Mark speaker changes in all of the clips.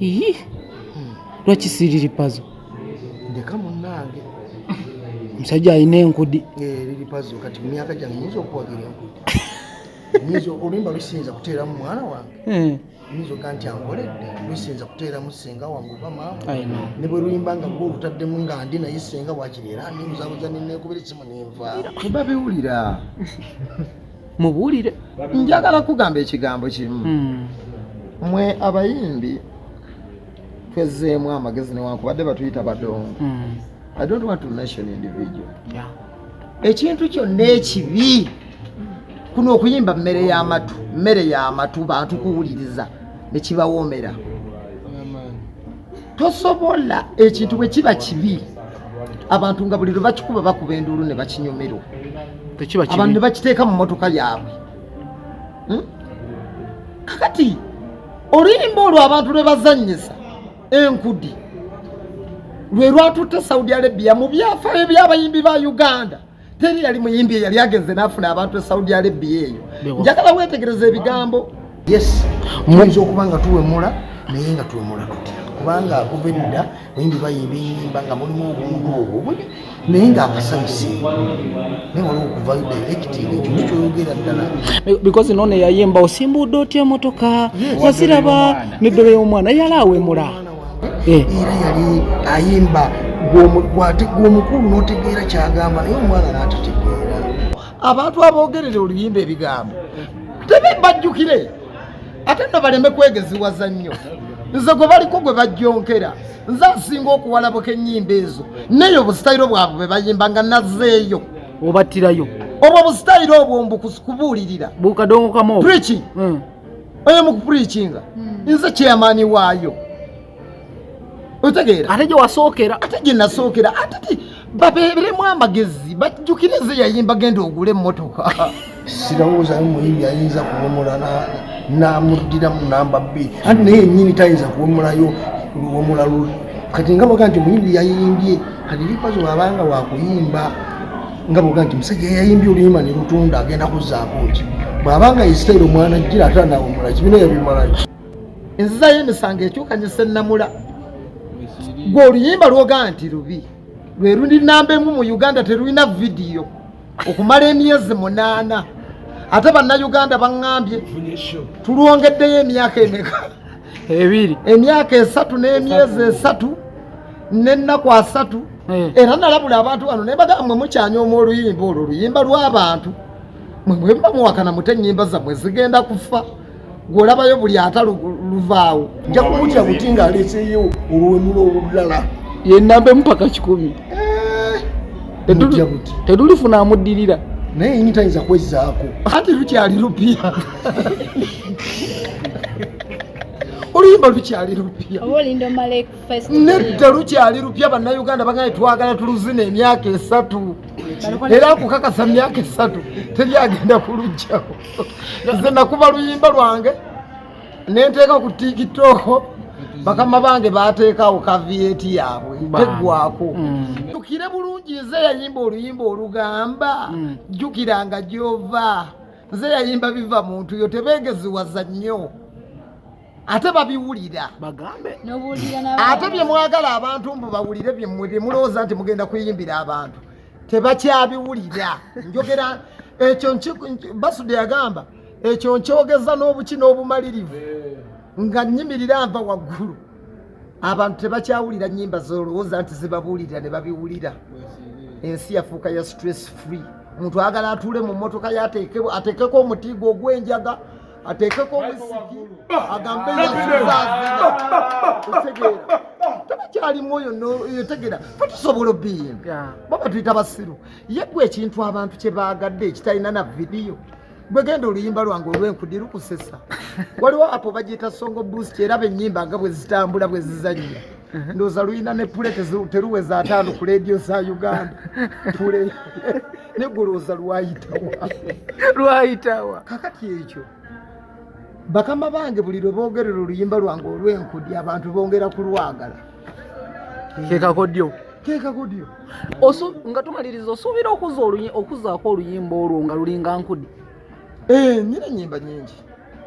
Speaker 1: Iyi.
Speaker 2: Lwaki siriri pazo? Ndeka
Speaker 1: munange.
Speaker 2: Musajja alina enkudi. Eh, liri pazo kati
Speaker 1: myaka gyange nyinza okuwagira enkudi. Nyinza olimba lusinza kuteeramu mwana wange. Eh. Nyinza oga nti ankoledde lusinza kuteeramu ssenga wange oba maama. I know. Ne bwe luyimba nga gwe olutaddemu nga ndi naye ssenga wakiri era ndi muzabuza ne neekubira essimu ne nva. Kuba biwulira.
Speaker 2: mubuulire njagala
Speaker 3: kugamba ekigambo kimu hmm. mwe abayimbi twezzeemu amagezi newankubadde batuyita badongo hmm. i don't want to mention individual ekintu kyonna ekibi kuno okuyimba mmere y'amatu mmere y'amatu bantu kuwuliriza nekibawoomera tosobola ekintu bwe kiba kibi abantu nga buli lwe bakikuba bakuba enduulu ne bakinyumirwa abantu ne bakiteeka mu motoka yaabwe hmm? kakati oluyimba olwo abantu lwe bazannyisa enkudi lwe lwatutte saudi arabia mu byafaayo by'abayimbi ba uganda teri yali muyimbi eyali agenze n'afuna abantu e saudi arabia eyo njagala weetegereza ebigambo yes
Speaker 1: muyinza okuba nga tuwemula naye nga tuwemula tutya kubanga akuva edda bayimbi bayimba enyimba nga mulimu obuntu obwo buli naye nga abasanyuse naye waliwo okuva directing ekintu kyoyogera ddala because noona
Speaker 2: yayimba osimbuudde otya emotoka waziraba neddole y'omwana yali awemula eh. era
Speaker 1: yali ayimba gw'omukulu n'otegeera kyagamba naye omwana n'atategeera abantu
Speaker 3: aboogerera oluyimba ebigambo tebe bajjukire ate no baleme kwegeziwaza nnyo nze gwe baliko gwe bajjonkera nze asinga okuwalabuka ennyimba ezo neyo obusitayiro bwabwe bwe bayimba nga nazeeyo obattirayo
Speaker 2: obwo obusitayiro
Speaker 3: obwo mbukubuulirira bukadongo kamu
Speaker 2: preaching hmm.
Speaker 3: oyo mukupurikinga hmm. nze chairman waayo otegeera ate gyewasookera ate
Speaker 2: gyenasookera
Speaker 3: ate ti babeeremu amagezi bajjukire nze yayimba genda ogule emmotoka sirowoozayo
Speaker 1: muyimbi ayinza kuwumula namuddiramu namba bbiri ati naye enyini tayinza kuwumulayo luwumula luli kati nga baga nti muyimbi yayimbye kati likazi wabanga wakuyimba nga boga nti musajja yayimbye oluyimba ne lutunda agenda kuzzaako ki bw'aba nga isirairi omwana jjira ate anawumula kibina yabimalaki enziza
Speaker 3: y'emisango ekyuka ne sennamula gwe oluyimba lwoga nti lubi lwe luli namba emu mu uganda terulina vidiyo okumala emyezi munaana ate bannayuganda baŋŋambye tulwongeddeyo emyaka emeka ebiri
Speaker 2: emyaka esatu
Speaker 3: n'emyezi esatu n'ennaku asatu eh. era nalabula abantu bano naye bagamba mwe mukyanyooma oluyimba olwo oluyimba lw'abantu mwe mwemba muwakana mute ennyimba zammwe zigenda kufa gwolabayo buli ata luvaawo nja kumutya
Speaker 1: buti ng'aleseeyo olwenulo olulala yenamba emupaka
Speaker 2: kikumi eh, tetulifuna amuddirira naye yinitayinza
Speaker 1: kwezzaako anti lukyali
Speaker 3: lupya oluyimba lukyali lupya nedda lukyali lupya bannayuganda bagambye twagala tuluzina emyaka esatu era akukakasa myaka esatu teri agenda kulujjako nze nakuba luyimba lwange nenteeka ku tikitoko bakama bange bateekawo kaviyeti yaabwe teggwako mm. jjukire bulungi nze yayimba oluyimba olugamba mm. jjukiranga gyova nze yayimba biva muntu yo tebegeziwaza nnyo ate babiwulira
Speaker 2: ate
Speaker 3: bye mwagala abantu mbu bawulire byemwe bye mulowooza nti mugenda kuyimbira abantu tebakyabiwulira njogera ekyo basude yagamba ekyo nkyogeza n'obuki n'obumalirivu nga nyimirira nva waggulu abantu tebakyawulira nyimba zolowooza nti zibabuulirira ne babiwulira ensi yafuuka ya stress free omuntu agala atuule mu mmotoka ye ateekeko omutiigo ogw'enjaga ateekeko omusiki agambe yasuzaazira tabakyalimu oyo yotegera fe tusobola obiyinga baba tuyita basiru yeggwa ekintu abantu kye baagadde ekitalina na vidiyo gwegenda oluyimba lwange olwenkudi lukusesa waliwo apo bagiyita songo boost era benyimba nga bwezitambula bwezizanya mhm. ndoza luyina ne pule teruweza ataano ku leediyo za uganda pule negulooza lwayitawa lwayitawa
Speaker 2: kakati ekyo
Speaker 3: bakama bange buli lwe boogerera oluyimba lwange olwenkudi abantu bongera kulwagala
Speaker 2: kekakodyo kekakodyo osu
Speaker 4: nga tumaliriza osuubira okuza oluyi okuzaako oluyimba olwo nga lulinga nkudi ee eh,
Speaker 3: nyina nyimba nyingi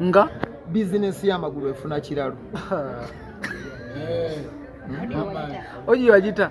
Speaker 3: nga
Speaker 4: bizinesi
Speaker 3: y'amagulu efuna kiralo
Speaker 4: oyo yagita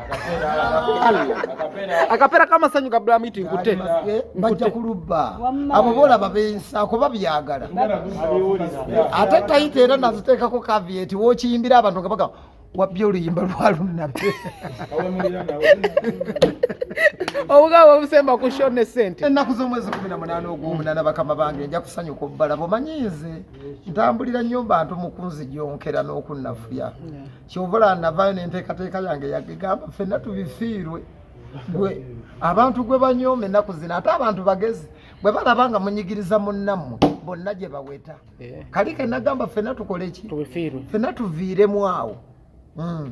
Speaker 4: akapera kamasanyu ka blamit nkute bajja kulubba
Speaker 3: abo bolaba bensa kuba byagala ate tayita era naziteekako kavieti wokiyimbira abantu nga bagamba wabbye oluyimba lwalunnabe
Speaker 4: obugabo obusemba ku sho ne sente ennaku z'omwezi kumi na
Speaker 3: munaana ogw'omunana bakama bange nja kusanyuka obbala bumanyi nze ntambulira nnyo mbantu mukunzi gyonkera n'okunnafuya kyovola navayo nenteekateeka yange yagegamba fenna tubifiirwe gwe abantu gwe banyooma ennaku zino ate abantu bagezi bwe balaba nga munyigiriza munnammwe bonna gye baweta eh. kali kenagamba fenna tukole ki fenna
Speaker 2: tuviiremu
Speaker 3: awo hmm.